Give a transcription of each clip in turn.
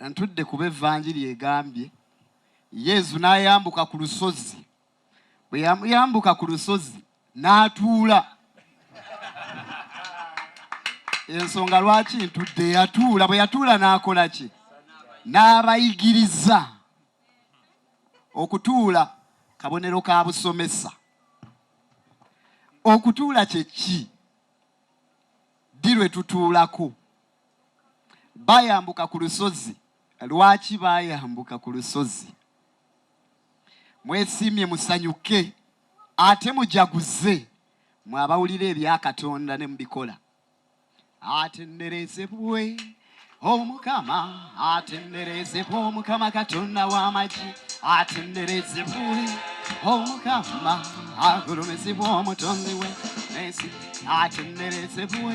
Ntudde kuba evanjiri egambye Yezu n'ayambuka ku lusozi, bwe yambuka ku lusozi n'atuula. Ensonga lwaki ntudde yatuula, bwe yatuula n'akola ki? N'abayigiriza. Okutuula kabonero ka busomesa. Okutuula kye ki? Ddi lwe tutuulako? Baayambuka ku lusozi. Lwaki baayambuka ku lusozi? Mwesiimye, musanyuke, ate mujaguze, mwe abawulira ebya Katonda ne mubikola. Atenderezebwe omukama, atenderezebwe omukama Katonda w'amagi, atenderezebwe omukama, agulumizibwe omutonzi we, atenderezebwe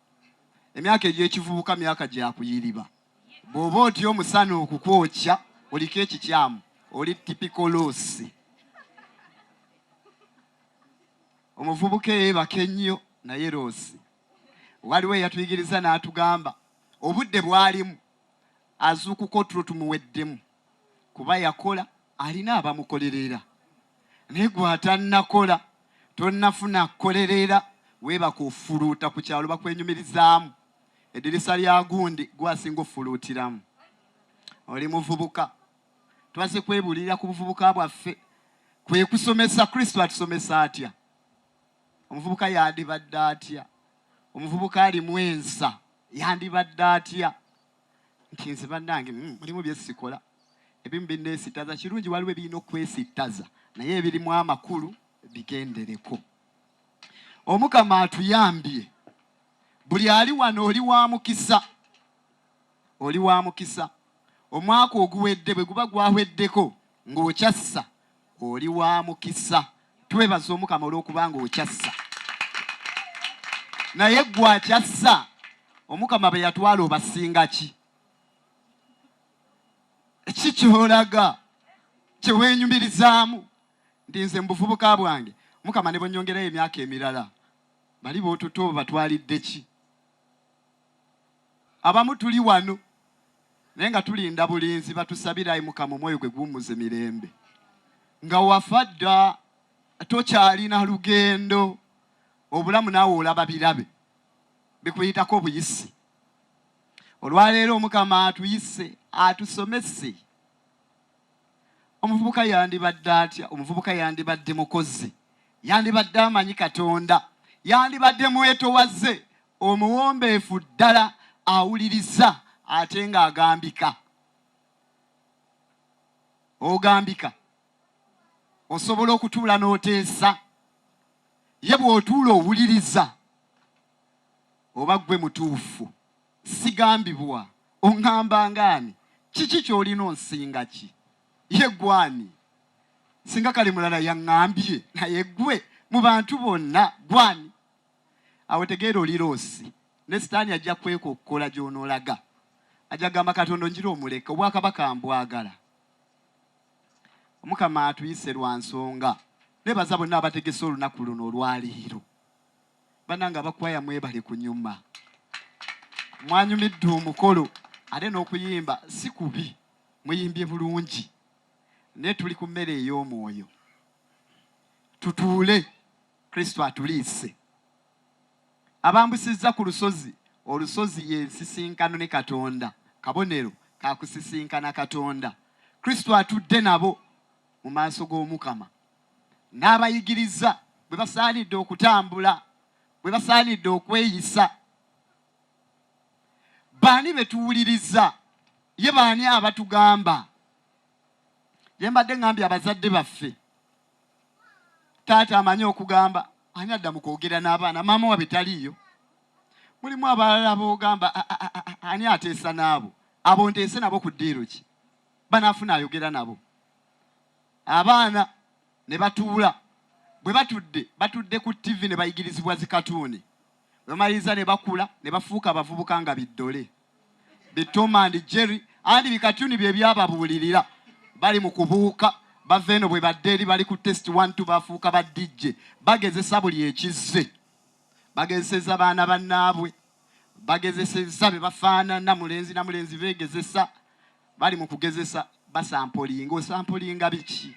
emyaka egy'ekivubuka myaka gya kuyiriba bw'oba otya omusana okukwokya oliko ekikyamu oli tipikoloosi omuvubuka eyeebaka ennyo naye loosi waliwo eyatuyigiriza n'atugamba obudde bwalimu azuukuka otulo tumuweddemu kuba yakola alina abamukolerera naye gwatanakola tonafuna kolerera webaka ofuluuta ku kyalo bakwenyumirizaamu edirisa lya gundi gwasinga ofuluutiramu oli muvubuka twaze kwebulirira ku buvubuka bwaffe kwekusomesa kristo atusomesa atya omuvubuka yandibadde atya omuvubuka alimu ensa yandibadde atya nti nze banange mm, mulimu byesikola ebimu binesitaza kirungi waliwo ebirina okwesitaza naye ebirimu amakulu bigendereko omukama atuyambye buli ali wano oli wa mukisa oli wa mukisa omwaka oguwedde bwe guba gwahweddeko ng'okyassa oli wa mukisa twebaza omukama olw'okuba ng'okyassa naye gwe akyassa omukama be yatwala obasinga ki ki kyolaga kyeweenyumirizaamu ndi nze mu buvubuka bwange mukama ne bonyongerayo emyaka emirala bali bootuto batwalidde ki Abamu tuli wano naye nga tulinda bulinzi batusabire ayi mukama omwoyo gwe guwummuze mirembe nga wafa dda tokyalina lugendo obulamu naawe olaba birabe bikuyitako obuyisi olwaleero omukama atuyise atusomese omuvubuka yandibadde atya omuvubuka yandibadde mukozi yandibadde amanyi katonda yandibadde mwetowaze omuwombeefu ddala awuliriza ate ng'agambika ogambika osobola okutuula n'oteesa ye bw'otuula owuliriza oba gwe mutuufu sigambibwa oŋŋamba ngaani kiki ky'olina onsinga ki ye gwani singa kale mulala yaŋŋambye naye gwe mu bantu bonna gwani awo wetegeera oli loosi ne sitaani ajja kwekokkola gy'onoolaga ajja kugamba katonda onjira omuleka obwakabaka mbwagala omukama atuyise lwa nsonga nebaza bonna abategese olunaku luno olwaleero bananga abakwaya mwebale kunyuma mwanyumidde omukolo ate n'okuyimba si kubi muyimbye bulungi naye tuli ku mmere ey'omwoyo tutuule Kristo atuliise. Abambusizza ku lusozi. Olusozi ye nsisinkano ne Katonda, kabonero ka kusisinkana Katonda. Kristo atudde nabo mu maaso g'Omukama n'abayigiriza bwe basaanidde okutambula, bwe basaanidde okweyisa. Baani be tuwuliriza? Ye baani abatugamba? Gye mbadde ŋŋambye abazadde baffe. taata amanyi okugamba ani adda mu kwogera n'abaana maama wabwe taliiyo mulimu abalala boogamba ani ateesa n'abo abo nteese nabo ku ddiiro ki banaafuna ayogera nabo abaana ne batuula bwe batudde batudde ku ttivi ne bayigirizibwa zikatuuni bwemaliriza ne bakula ne bafuuka abavubuka nga biddole bi Tom and Jerry andi bikatuni bye byababuulirira bali mu kubuuka bava eno bwe badde eri bali ku test one two bafuuka ba DJ bagezesa buli ekizze bagezeseza baana bannaabwe bagezeseza be bafaanana mulenzi na mulenzi beegezesa bali mu kugezesa basampolinga osampolinga biki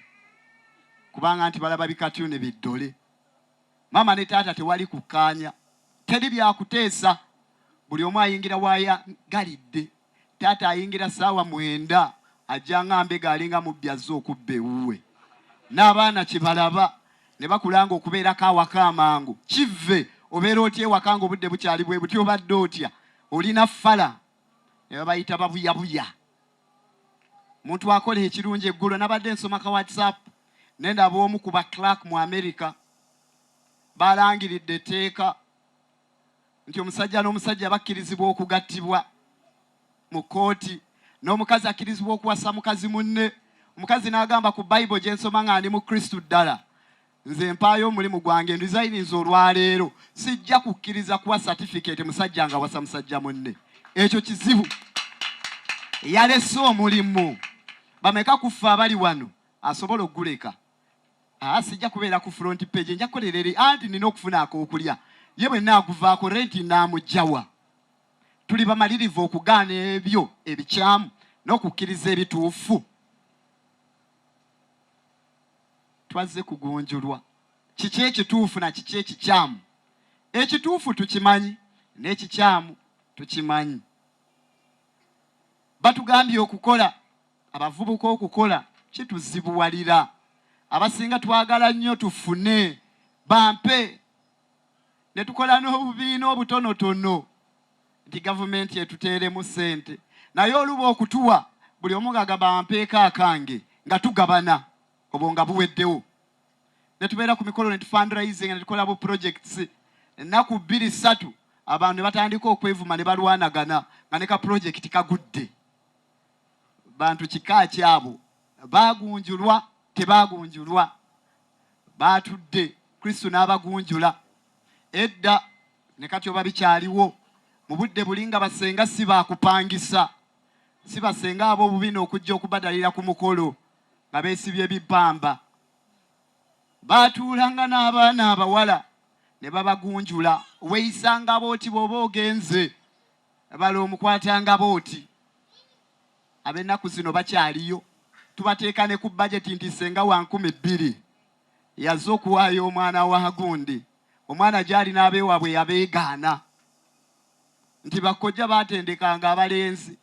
kubanga nti balaba bikatuni biddole Maama ne taata tewali kukkaanya, teri bya kuteesa, buli omu ayingira w'ayagalidde. Taata ayingira ssaawa mwenda ajja nga mbega alinga mubbi azze okubba ewuwe. N'abaana kye balaba ne bakula ng'okubeerako awaka amangu kivve. Obeera otya ewaka ng'obudde bukyali bwe buti? Obadde otya? Olina ffala? Ne babayita babuyabuya. muntu akola ekirungi eggulo nabadde nsoma ka whatsapp ne ndaba omu ku baclark mu america balangiridde etteeka nti omusajja n'omusajja bakkirizibwa okugattibwa mu kkooti n'omukazi akkirizibwa okuwasa mukazi munne omukazi n'agamba ku bayibo gye nsoma nga ndi mu kristu ddala Nze mpaayo omulimu gwange nrizayininza olwaleero sijja kukkiriza kuwa satifikeete musajja nga wasa musajja munne ekyo kizibu yalese omulimu bameka kuffe abali wano asobola okuguleka ah, sijja kubeera ku front page nja kukolera eri anti nina okufuna akokulya ye bwe naaguvaako renti naamugjawa tuli bamalirivu okugaana ebyo ebikyamu n'okukkiriza ebituufu Twazze kugunjulwa kiki ekituufu na kiki ekikyamu. Ekituufu tukimanyi n'ekikyamu tukimanyi. Batugambye okukola, abavubuka okukola kituzibuwalira. Abasinga twagala nnyo tufune, bampe. ne tukola n'obubiina obutonotono nti gavumenti etuteeremu ssente naye oluba okutuwa buli omu ng'agamba ampeeko akange nga tugabana obwo nga buweddewo ne tubeera ku mikolo ne tufundraising ne tukola bu projects ennaku bbiri ssatu abantu ne batandika okwevuma ne balwanagana nga ne ka pulojekiti kagudde bantu kika kyabo baagunjulwa tebaagunjulwa baatudde kristo n'abagunjula edda ne kati oba bikyaliwo mu budde buli nga basenga si baakupangisa si basenga ab'obubina okujja okubadalira ku mukolo nga beesibye bibbamba baatuulanga n'abaana abawala ne babagunjula weeyisanga booti bw'oba ogenze bala omukwatanga booti Ab'ennaku zino bakyaliyo. Tubateeka ne ku bajeti nti ssenga wa nkumi bbiri yazze okuwaayo omwana wa gundi, omwana gy'ali n'abeewaabwe yabeegaana nti bakkojja baatendekanga abalenzi,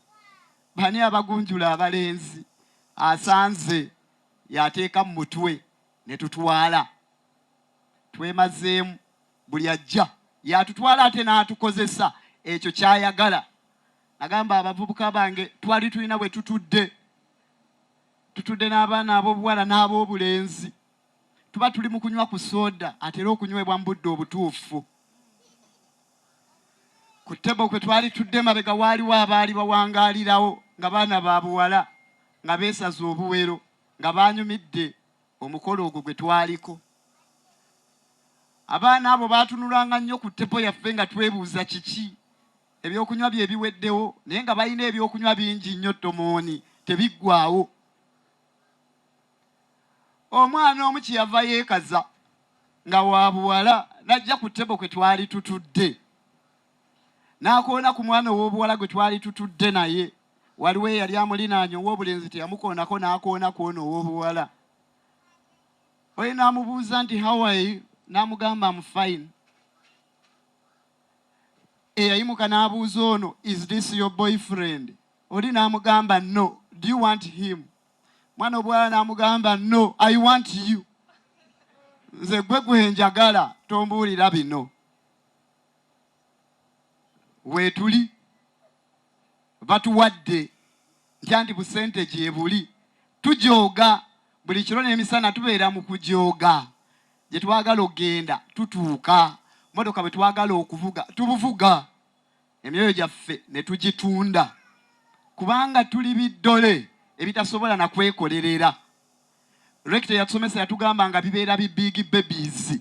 bani abagunjula abalenzi? Asanze y'ateeka mu mutwe ne tutwala. Twemazeemu, buli ajja y'atutwala ate n'atukozesa ekyo ky'ayagala. Nagamba abavubuka bange twali tulina bwe tutudde tutudde n'abaana ab'obuwala n'ab'obulenzi tuba tuli mu kunywa ku sooda atera okunywebwa mu budde obutuufu ku tebo kwe twali tudde mabega waaliwo abaali bawangaalirawo nga baana ba buwala nga beesaza obuwero nga baanyumidde omukolo ogwo gwe twaliko abaana abo baatunulanga nnyo ku tebo yaffe nga twebuuza kiki Ebyokunywa bye biweddewo naye nga balina ebyokunywa bingi nnyo ttomooni tebiggwaawo. Omwana omu kye yava yeekaza nga wa buwala n'ajja ku ttebo kwe twali tutudde n'akoona ku mwana ow'obuwala gwe twali tutudde naye. Waliwo eyali amulinaanye ow'obulenzi teyamukoonako n'akoona ku ono ow'obuwala. Oyo n'amubuuza nti Hawaii n'amugamba am fine. eyayimuka n'abuuza ono is this your boyfriend oli n'amugamba no do you want him mwana obwala n'amugamba no i want you nze gwe gwenjagala tombuulira bino weetuli batuwadde ntyandi busente gyebuli tujooga buli kiro n'emisana tubeera mu kujooga Gye twagala okugenda tutuuka, mmotoka bwe twagala okuvuga tubuvuga, emyoyo gyaffe ne tugitunda kubanga tuli biddole ebitasobola na kwekolerera. Rekita yatusomesa yatugamba nga bibeera bi big babies,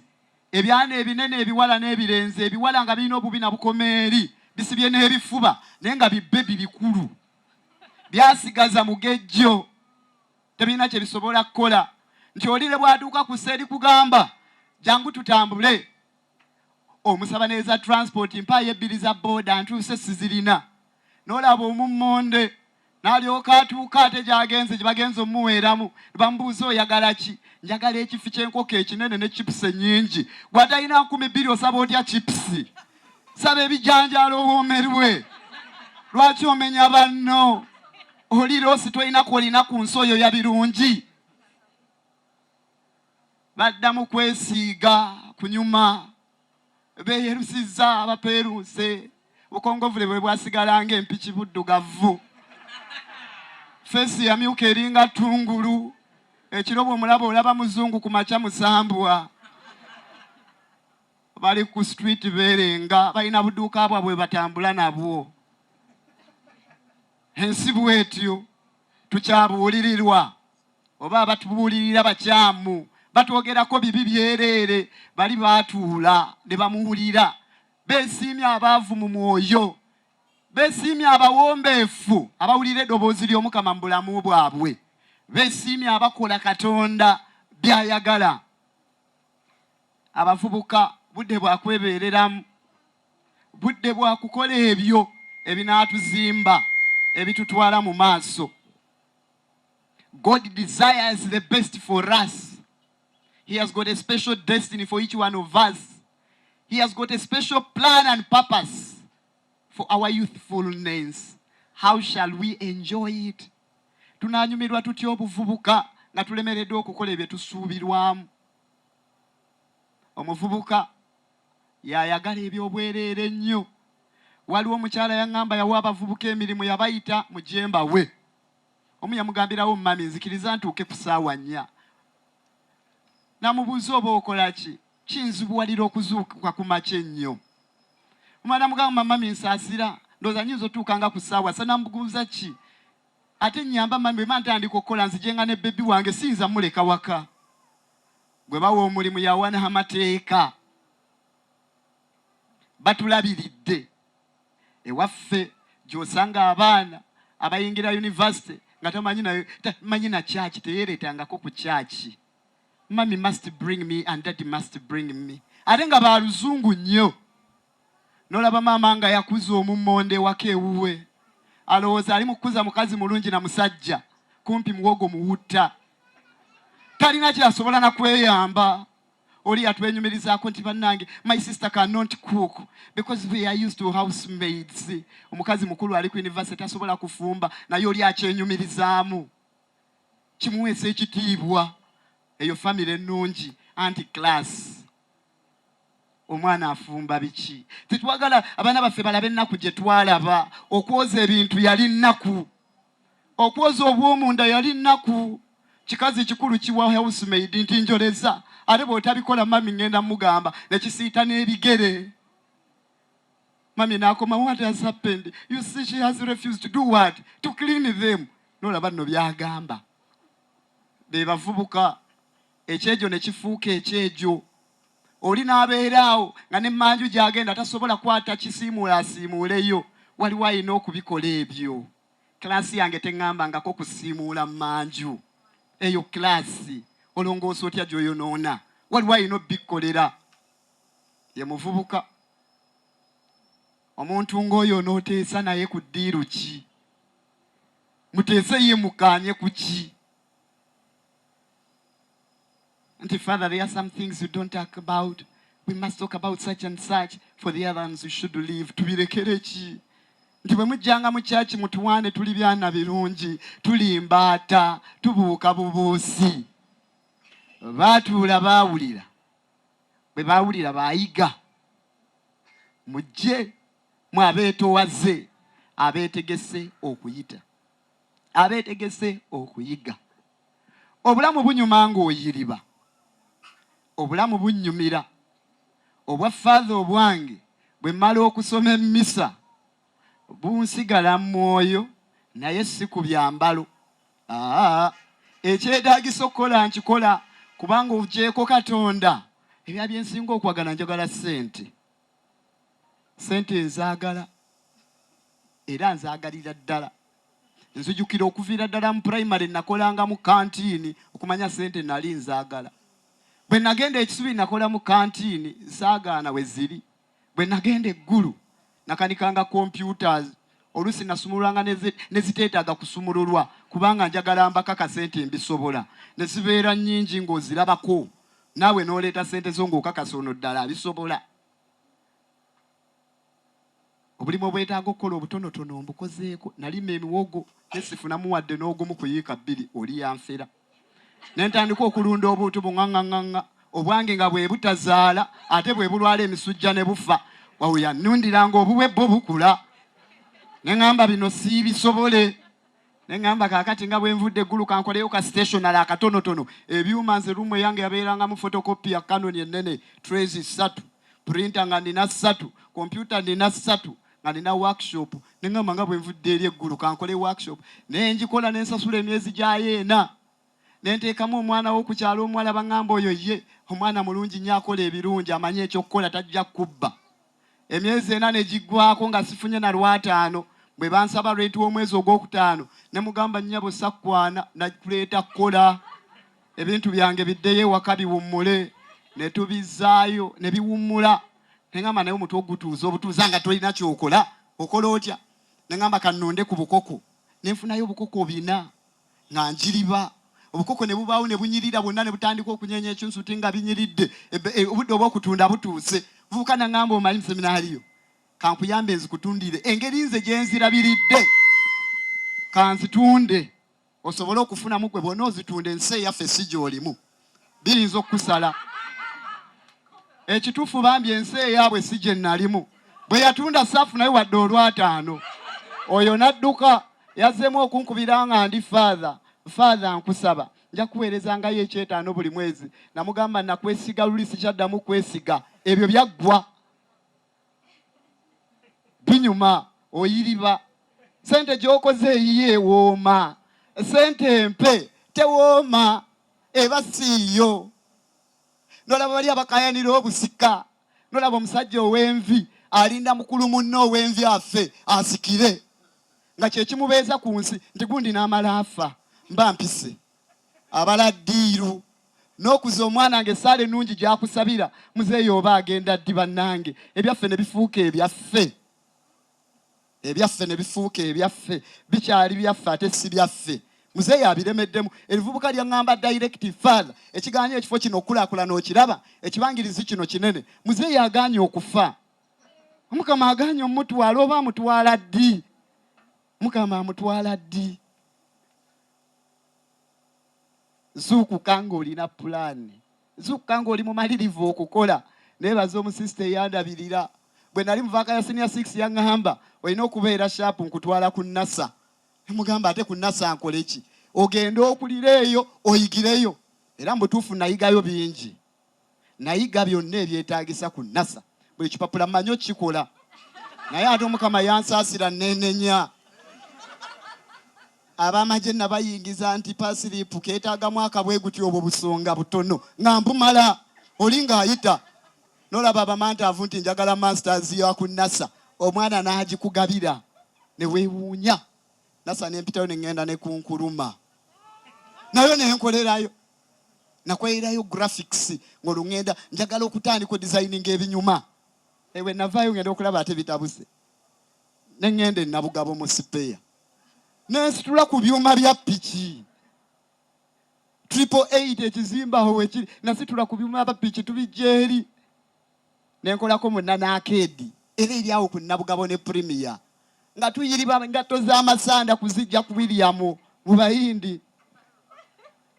ebyana ebinene ebiwala n'ebirenzi, ebiwala nga birina obubi na bukomeeri bisibye n'ebifuba naye nga bibebi bikulu byasigaza mugejjo tebirina kye bisobola kukola nti oli ne bw'atuuka ku seeri kugamba jangu tutambule omusaba neeza transport mpaayo ebbiri za booda ntuuse sizirina n'olaba omummonde n'alyoka atuuka ate gy'agenze gye bagenze omuweeramu bamubuuza oyagala ki njagala ekifi ky'enkoko ekinene ne chipusi ennyingi gwatalina nkumi bbiri osaba otya chipusi saba ebijanjaalo owoomerwe lwaki omenya banno oli loosi tolina kwolina ku nsi oyo ya birungi baddamu kwesiiga kunyuma beyerusiza abapeeruuse bukongovule bwe bwasigala nga empiki buddugavu feesi yamyuka eringa tungulu ekiro bwomulaba olaba muzungu ku makya musambwa bali ku street beerenga balina buduuka bwabwe batambula nabwo Ensi bwetyo tukyabuulirirwa oba abatubuulirira bakyamu batwogerako bibi byereere bali baatuula ne bamuwulira beesiimye abaavu mu mwoyo beesiimye abawombeefu abawulira eddoboozi ly'omukama mu bulamu bwabwe beesiimye abakola katonda by'ayagala abavubuka budde bwa kwebeereramu budde bwa kukola ebyo ebinaatuzimba ebitutwala mu maaso. God desires the best for us. He has got a special destiny for each one of us. He has got a special plan and purpose for our youthfulness. How shall we enjoy it? Tunaanyumirwa tutya obuvubuka nga tulemereddwa okukola ebyo tusuubirwamu. Omuvubuka Y'ayagala eby'obwereere ennyo. Waliwo omukyala yangamba yawa abavubuka emirimu yabayita mugye mbawe. Omu yamugambirawo mummy nzikiriza ntuuke ku saawa nnya. Namubuuza oba okola ki? Kinzibuwalira okuzuukuka ku makya ennyo. Omulala namugamba mummy nsaasira ndowooza nyinza otuuka nga ku saawa ssa. Namubuuza ki? Ate nyamba mummy bwemba ntandika okukola nzigyenga ne baby wange siyinza muleka waka. gwe bawa omulimu yawana amateeka batulabiridde ewaffe gyosanga abaana abayingira yunivasite nga tamanyi nayo manyi na kyaki teyereetangako ku kyaki mami must bring me and daddy must bring me ate nga baluzungu nnyo nolaba maama nga yakuza omummonde ewaka ewuwe alowooza ali mukukuza mukazi mulungi na musajja kumpi muwogo muwutta talina kyasobola nakweyamba oli yatwenyumirizaako nti bannange my sister cannot cook because we are used to house maids omukazi mukulu ali ku university tasobola kufumba naye oli akyenyumirizaamu kimuweesa ekitiibwa eyo famire ennungi anti class omwana afumba biki tetwagala abaana baffe balabe ennaku gye twalaba okwoza ebintu yali nnaku okwoza obwomunda yali nnaku kikazi kikulu kiwa housemaid nti njoleza ate bwotabikola mami ngenda mugamba nekisiita n'ebigere mami nakoma what has happened you see she has refused to do what to clean them nolaba nno byagamba bebavubuka ekyejo ne kifuuka ekyejo oli n'abeeraawo nga ne manju gy'agenda tasobola kwata kisiimuula asiimuuleyo waliwo alina okubikola ebyo kilaasi yange teŋŋambangako kusiimuula manju eyo kilaasi olongoosa otya gy'oyonoona waliwo alina obikkolera ye muvubuka omuntu ng'oyo onooteesa naye ku ddiiru ki muteese ye mukaanye ku ki Auntie Father, there are some things you don't talk about. We must talk about such and such for the other ones we should leave. Tubirekere ki? Nti bwe mujjanga mu kyaki mutuwaane tuli byana birungi, tuli mbaata, tubuuka bubuusi. Baatuula baawulira. Bwe baawulira baayiga. Mujje mwe abeetoowaze abeetegese okuyita. abeetegese okuyiga. Obulamu bunyuma ng'oyiriba, obulamu bunnyumira. Obwa Father obwange bwe mmala okusoma emmisa bunsigala mu mwoyo naye si ku byambalo. Aa, ekyetaagisa okukola nkikola kubanga ogyeko Katonda ebya bye nsinga okwagala njagala ssente. sente nzagala era nzagalira ddala nzijukira okuviira ddala mu primary nakolanga mu kantiini okumanya sente nali nzagala bwe nagenda ekisubi nakola mu kantiini nsaagaana we ziri bwe nagenda eggulu nakanikanga computers oluusi nasumululanga neziteetaaga kusumululwa kubanga njagala mbakakase nti mbisobola ne zibeera nnyingi ng'ozirabako naawe n'oleeta ssente zo ng'okakasa ono ddala abisobola. Obulimu obwetaaga okukola obutonotono mbukozeeko. Nalima emiwogo ne sifunamu wadde n'ogumu ku yiika bbiri oli yanfera. Ne ntandika okulunda obuntu bung'aŋŋaŋŋaŋŋa obwange nga bwe butazaala ate bwe bulwala emisujja ne bufa. Wabula yannundiranga obuwe bwo bukula ne ŋŋamba bino siibisobole. ne ŋŋamba kaakati nga bwe nvudde eggulu kankoleyo ka stationary akatonotono ebyuma nze ruumu eyange yabeerangamu fotokopi ya canon ennene trays ssatu printa nga nina ssatu kompyuta nina ssatu nga nina workshop ne ŋŋamba nga bwe nvudde eri eggulu kankole workshop naye ngikola ne nsasula emyezi gyayo ena ne nteekamu omwana wo ku kyalo omuwala baŋŋamba oyo ye omwana mulungi nnyo akola ebirungi amanyi ekyokukola tajja kubba emyezi ena ne giggwaako nga sifunye na lwataano. Bwe bansaba renti w'omwezi ogwokutaano ne mugamba nnyabo sakwana na kuleeta kukola ebintu byange biddeyo ewaka biwummule ne tubizzaayo ne biwummula ne ngamba naye omutwe ogutuuza obutuuza nga tolina kyokola okola otya ne ngamba kannonde ku bukoko ne nfunayo obukoko bina nga njiriba obukoko ne bubaawo ne bunyirira bwonna ne butandika okunyeenya ekyunsuti nga binyiridde e, obudde obw'okutunda butuuse vubuka naŋŋamba omanyi museminaaliyo kankuyambe nzikutundire engeri nze gye nzirabiridde kanzitunde osobole okufunamu gwe bwona ozitunda ensi eyaffe si gy'olimu biyinza okukusala ekitufu bambi ensi eyaabwe si gye nalimu bwe yatunda saafu naye wadde olwataano oyo n'adduka yazzeemu okunkubira nga ndi faatha faatha nkusaba nja kuweereza ngayo ekyetaano buli mwezi namugamba nakwesiga luli sikyaddamu kwesiga ebyo byaggwa binyuma oyiriba sente gyokoze eyiyo ewooma sente empe tewooma eba siiyo nolaba bali abakayanira obusika nolaba omusajja ow'envi alinda mukulu munne ow'envi affe asikire nga kyekimubeeza ku nsi nti gundi n'amala afa mba mpise abala diiru n'okuza omwana nga essaala ennungi gyakusabira muzeeyi oba agenda ddi bannange ebyaffe ne bifuuka ebyaffe ebyaffe ne bifuuka ebyaffe bikyali byaffe ate si byaffe muzeeyi abiremeddemu ebivubuka lyaŋŋamba direct father ekiganye ekifo kino okukulakulana okiraba ekibangirizi kino kinene muzeeyi aganye okufa omukama aganye omutwala oba amutwala ddi Mukama amutwala ddi? Zuukuka ng'olina pulaani, zuukuka ng'oli mumalirivu okukola. Neebaza omusisita eyandabirira bwe nali muvaaka ya siniya six yaŋŋamba olina okubeera shaapu nkutwala ku nasa. Nemugamba ate ku nasa nkole ki? Ogende okulire eyo oyigireyo. Era mu butuufu nayigayo bingi. nayiga byonna ebyetaagisa ku nasa buli kipapula manyi okikola naye ate omukama yansaasira nenenya abamagye nabayingiza nti pasiripu keetaagamu akabwe guti obwo busonga butono nga mbumala oli ng'ayita nolaba abamantaavu nti njagala masters ya ku nasa omwana n'agikugabira ne weewuunya nasa nempitayo ne ŋŋenda ne kunkuluma nayo ne nkolerayo nakweyirayo graphics ng'olwo ŋŋenda njagala okutandika odisayininga ebinyuma ewe navaayo ngenda okulaba ate bitabuse ne ŋŋenda enabugabo mu sipeya nensitula ku byuma bya piki triple eight ekizimbaho wekiri nasitula ku byuma bya piki tubijja eri nenkolako munanaakeedi era eri awo ku nabugabo ne premier nga tuyiriba ngatto z'amasanda kuzijja ku williamu mu bayindi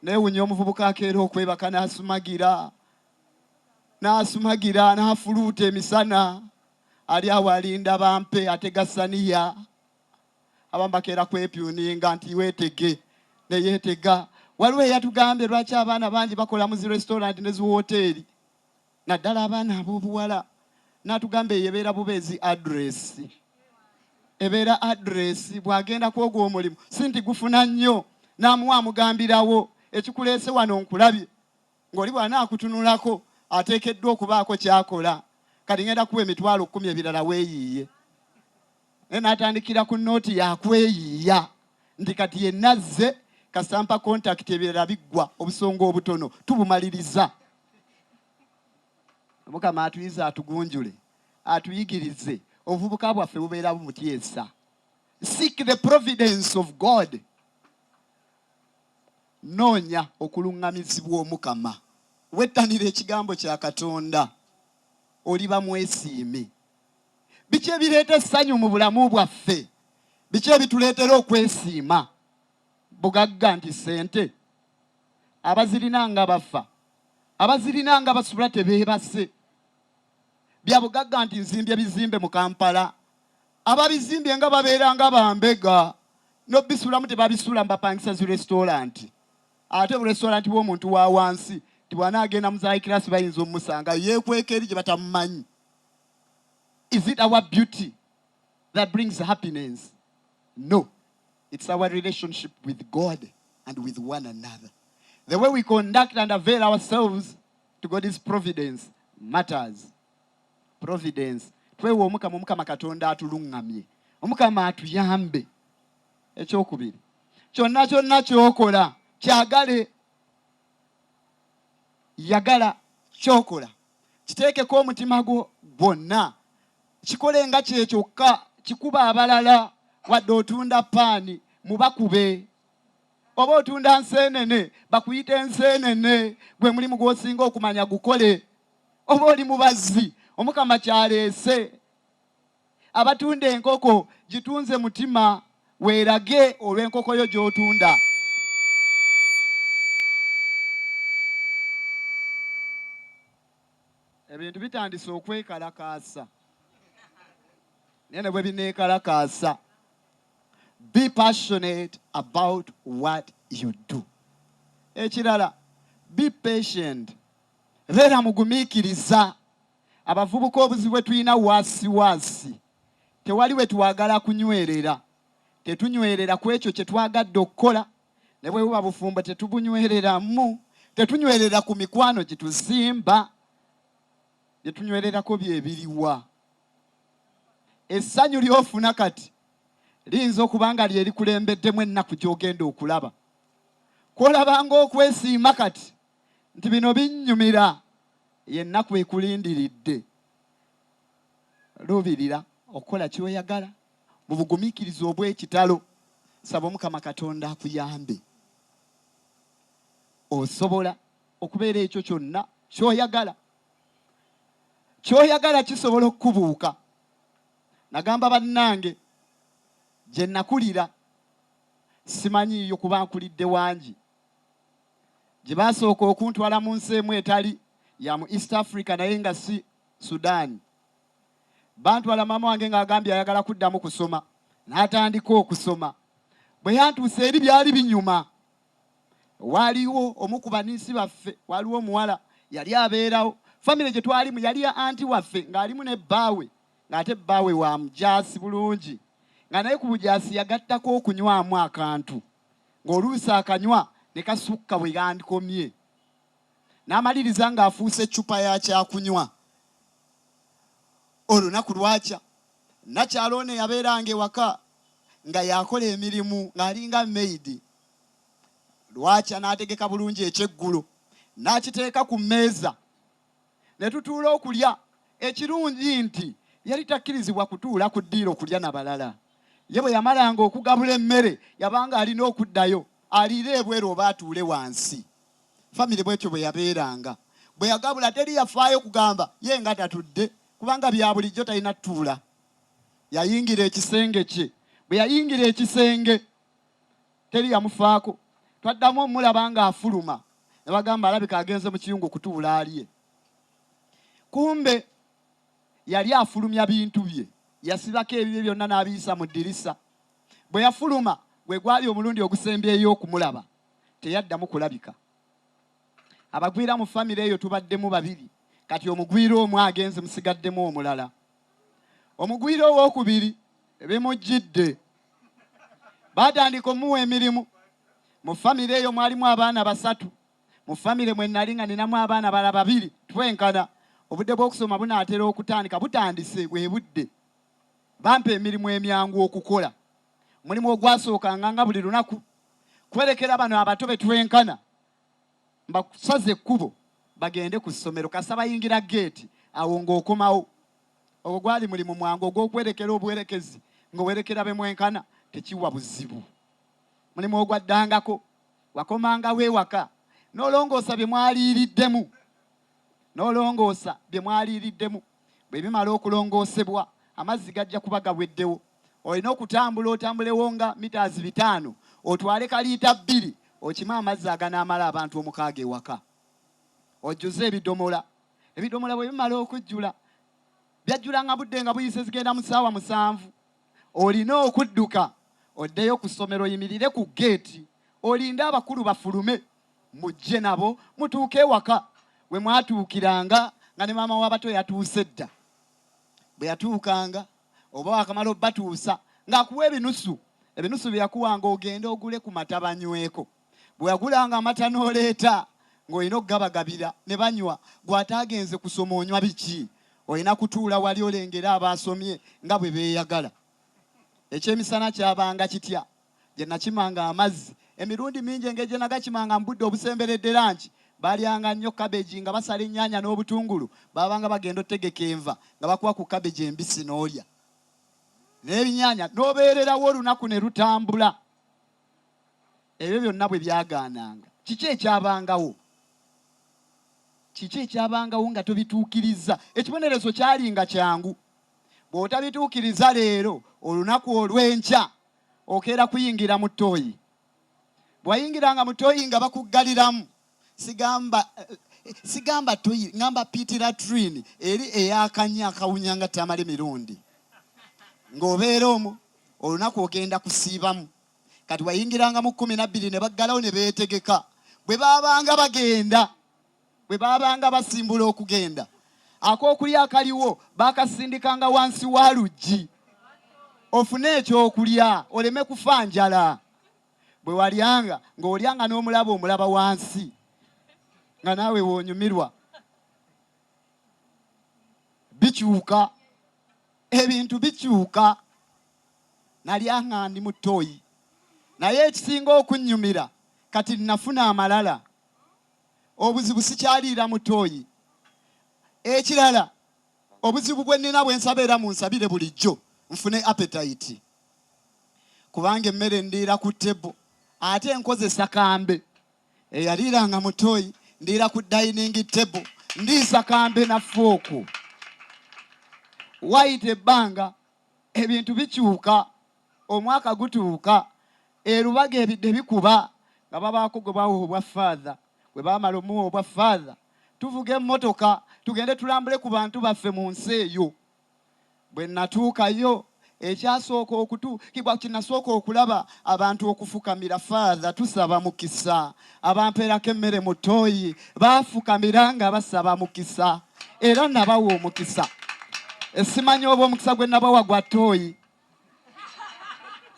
Newunya omuvubuka akeera okwebaka n'asumagira n'asumagira n'afuluuta emisana ali awo alinda bampe atega saniya abamu bakeera kwepyuninga nti weetege neyeetega waliwo eyatugambye lwaki abaana bangi bakola mu zi restaurant ne ziwooteeri naddala abaana ab'obuwala n'atugamba eyo ebeera bubeezi address ebeera address bw'agenda kwogwa omulimu si nti gufuna nnyo n'amuwa amugambirawo ekikuleese wano nkulabye ng'oli bw'anaakutunulako ateekeddwa okubaako ky'akola kati ngenda kuwa emitwalo kkumi ebirala weeyiiye naye n'atandikira ku nooti yakweyiiya nti kati yenna azze kasita mpa kontakiti ebirala biggwa obusonga obutono tubumaliriza mukama atuyize atugunjule atuyigirize obuvubuka bwaffe bubeera bumutyesa seek the providence of god noonya okuluŋŋamizibwa omukama wettanira ekigambo kya katonda oliba mwesiimi biki ebireeta essanyu mu bulamu bwaffe biki ebituleetera okwesiima bugagga nti ssente abazirina nga bafa abazirina nga basula tebeebase bya bugagga nti nzimbye bizimbe mu kampala ababizimbye nga babeera nga bambega nobisulamu tebabisula mbapangisa zi restauranti ate burestauranti bwomuntu wa wansi ti bwana agenda muzahikirasi bayinza omusanga yekweka eri gye batamumanyi is it our beauty that brings happiness no It's our relationship with God and with one another. The way we conduct and avail ourselves to God's providence matters. Providence. Twewa omukama omukama Katonda atulungamye. Omukama atuyambe. Ekyokubiri. Kyonna kyonna kyokola kyagale yagala kyokola kiteekeko omutima gwo gwonna Kikole nga kye kyokka, kikube abalala. Wadde otunda paani, mubakube. Oba otunda nseenene, bakuyite nseenene. Gwe mulimu gw'osinga okumanya gukole. Oba oli mubazzi, Omukama ky'aleese. Abatunda enkoko, gitunze mutima, weerage olw'enkoko yo gy'otunda. Ebintu bitandise okwekalakaasa naye ne bwe bineekalakaasa be passionate about what you do. Ekirala be patient, beera mugumiikiriza. Abavubuka obuzibu bwe tulina waasiwaasi, tewali we twagala kunywerera, tetunywerera ku ekyo kye twagadde okukola. ne bwe buba bufumbo tetubunywereramu tetunywerera ku mikwano gituzimba bye tunywererako bye biriwa essanyu ly'ofuna kati liyinza okuba nga lye likulembeddemu ennaku gy'ogenda okulaba kw'olabanga okwesiima kati nti bino binnyumira yennaku ekulindiridde luubirira okukola kyoyagala mu bugumikiriza obw'ekitalo. Saba Omukama Katonda akuyambe. Osobola okubeera ekyo kyonna kyoyagala. Kyoyagala kisobola okukubuuka. Nagamba bannange gye nakulira simanyiiyo kuba nkulidde wangi gye baasooka okuntwala mu nsi emu etali ya mu East Africa naye nga si Sudan. Bantwala maama wange ng'agambye ayagala kuddamu kusoma n'atandika okusoma. Bwe yantuusa eri byali binyuma. Waaliwo omu ku baniisi baffe, waaliwo omuwala yali abeerawo. Famire gye twalimu yali ya anti waffe ng'alimu ne bbaawe ng'ate bbaawe wa mujaasi bulungi nga naye ku bujaasi yagattako okunywamu akantu ng'oluusi akanywa ne kasukka bwe yandikomye. n'amaliriza ng'afuuse ccupa ya kyakunywa. Olunaku lwakya, nnakyala ono eyabeeranga ewaka nga yakola emirimu ng'alinga meyidi, lwakya n'ategeka bulungi ekyeggulo n'akiteeka ku mmeeza ne tutuula okulya. Ekirungi nti yali takkirizibwa kutuula ku ddiiro okulya na balala. Ye bwe yamalanga okugabula emmere yabanga alina okuddayo aliire ebweru oba atuule wansi. famire bwetyo bwe yabeeranga. Bwe yagabula teri yafaayo kugamba ye nga tatudde kubanga bya bulijjo talina tuula. Yayingira ekisenge kye. Bwe yayingira ekisenge teri yamufaako. Twaddamu omulaba ng'afuluma ne bagamba alabika agenze mu kiyungu kutuula alye. Kumbe yali afulumya bintu bye. Yasibako ebibye byonna n'abiyisa mu ddirisa. Bwe yafuluma gwe gwali omulundi ogusembyeyo okumulaba. teyaddamu kulabika. Abagwira mu famire eyo tubaddemu babiri kati omugwira omu agenze musigaddemu omulala. Omugwira owookubiri bimujjidde baatandika omuwa emirimu. Mu famire eyo mwalimu abaana basatu. Mu famire mwe nnali nga ninamu abaana bala babiri twenkana. Obudde bw'okusoma bunaatera okutandika butandise bwe budde. Bampa emirimu emyangu okukola. Mulimu ogwasookanga nga buli lunaku kwerekera bano abato betwenkana mbakusaza ekkubo bagende ku ssomero kasa bayingira geeti awo ng'okomawo ogwo gwali mulimu mwangu ogw'okwerekera obuwerekezi ng'owerekera be mwenkana tekiwa buzibu mulimu ogwaddangako wakomangawo ewaka n'olongoosa bye mwaliiriddemu n'olongoosa bye mwaliiriddemu Bwe bimala okulongoosebwa, amazzi gajja kuba gaweddewo. Olina okutambula otambulewo nga mitaazi bitaano otwale ka liita bbiri okime amazzi aganaamala abantu omukaaga ewaka. Ojjuze ebidomola. Ebidomola bwe bimala okujjula, byajjulanga budde nga buyise zigenda mu ssaawa musanvu. Olina okudduka oddeyo ku ssomero oyimirire ku ggeeti olinde abakulu bafulume. Mujje nabo mutuuke ewaka we mwatuukiranga nga ne maama w'abato yatuuse dda. Bwe yatuukanga oba waakamala obatuusa ng'akuwa ebinusu. Ebinusu bye yakuwanga ogende ogule ku mata banyweko. Bwe wagulanga amata n'oleeta ng'olina okugabagabira ne banywa. Gwe ataagenze kusoma onywa biki? Olina kutuula wali olengere abaasomye nga bwe beeyagala. Ekyemisana kyabanga kitya? gye nnakimanga amazzi. Emirundi mingi engeri gye nagakimanga mu budde obusemberedde lanci, baalyanga nnyo kabegi nga basala ennyaanya n'obutungulu. Baabanga bagenda otegeka enva nga bakuwa ku kabegi embisi n'olya n'ebinyaanya n'obeererawo olunaku ne lutambula. Ebyo byonna bwe byagaananga, kiki ekyabangawo? Kiki ekyabangawo nga tobituukirizza? Ekibonerezo kyalinga kyangu. Bw'otabituukiriza leero, olunaku olw'enkya okeera kuyingira mu ttooyi bwayingiranga mu ttooyi nga bakuggaliramu sigamba sigamba ttooyi ngamba pitiratrini eri eyakanya akawunya nga tamale mirundi ng'obeera omu olunaku ogenda kusiibamu kati wayingiranga mu kkumi nabbiri ne baggalawo ne beetegeka bwe baabanga bagenda bwe baabanga basimbula okugenda, ak'okulya akaliwo baakasindikanga wansi wa luggi ofune ekyokulya oleme kufa njala. Bwe walyanga ng'olyanga n'omulaba omulaba wansi nga naawe woonyumirwa. Bikyuka, ebintu bikyuka. Nalyanga ndi mu ttooyi, naye ekisinga okunnyumira kati nnafuna amalala. obuzibu sikyaliira mu tooyi. Ekirala obuzibu bwe nnina bwe nsaba era munsabire bulijjo nfune apetayiti kubanga emmere ndiira ku tebo ate nkozesa kambe eyaliiranga mu tooyi ndiira ku dayiningi tebo ndiisa kambe na fooku wayita ebbanga ebintu bikyuka, omwaka gutuuka, e Lubaga ebidde bikuba nga babaako gwe bawa obwa faadha. Bwe baamala omuwa obwa faadha, tuvuga emmotoka tugende tulambule ku bantu baffe mu nsi eyo. Bwe nnatuukayo ekyasooka okutuukibwa kye nnasooka okulaba abantu okufukamira faadha tusaba mukisa abampeerako emmere mu ttooyi baafukamira nga basaba mukisa era nabawa omukisa esimanyi oba omukisa gwe nabawa gwa ttooyi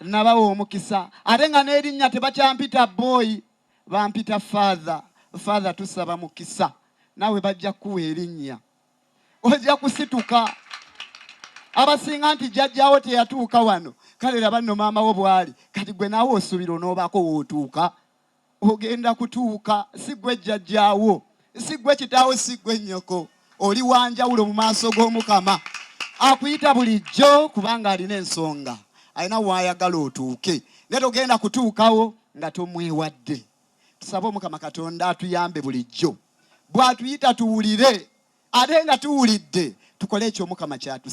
nabawa omukisa ate nga n'erinnya tebakyampita booyi bampita faatha faatha tusaba mukisa naawe bajja kukuwa erinnya ojja kusituka abasinga nti jjajjawo teyatuuka wano kale laba nno maama wo bwali kati gwe naawe osuubira onoobaako wootuuka Ogenda kutuuka, si ggwe jjajjaawo, si ggwe kitaawo, si ggwe nnyoko. Oli wa njawulo mu maaso g'Omukama. Akuyita bulijjo kubanga alina ensonga, alina waayagala otuuke, naye togenda kutuukawo nga tomwewadde. Tusabe Omukama Katonda atuyambe bulijjo bw'atuyita tuwulire ate nga tuwulidde tukole ekyo Omukama ky'atusi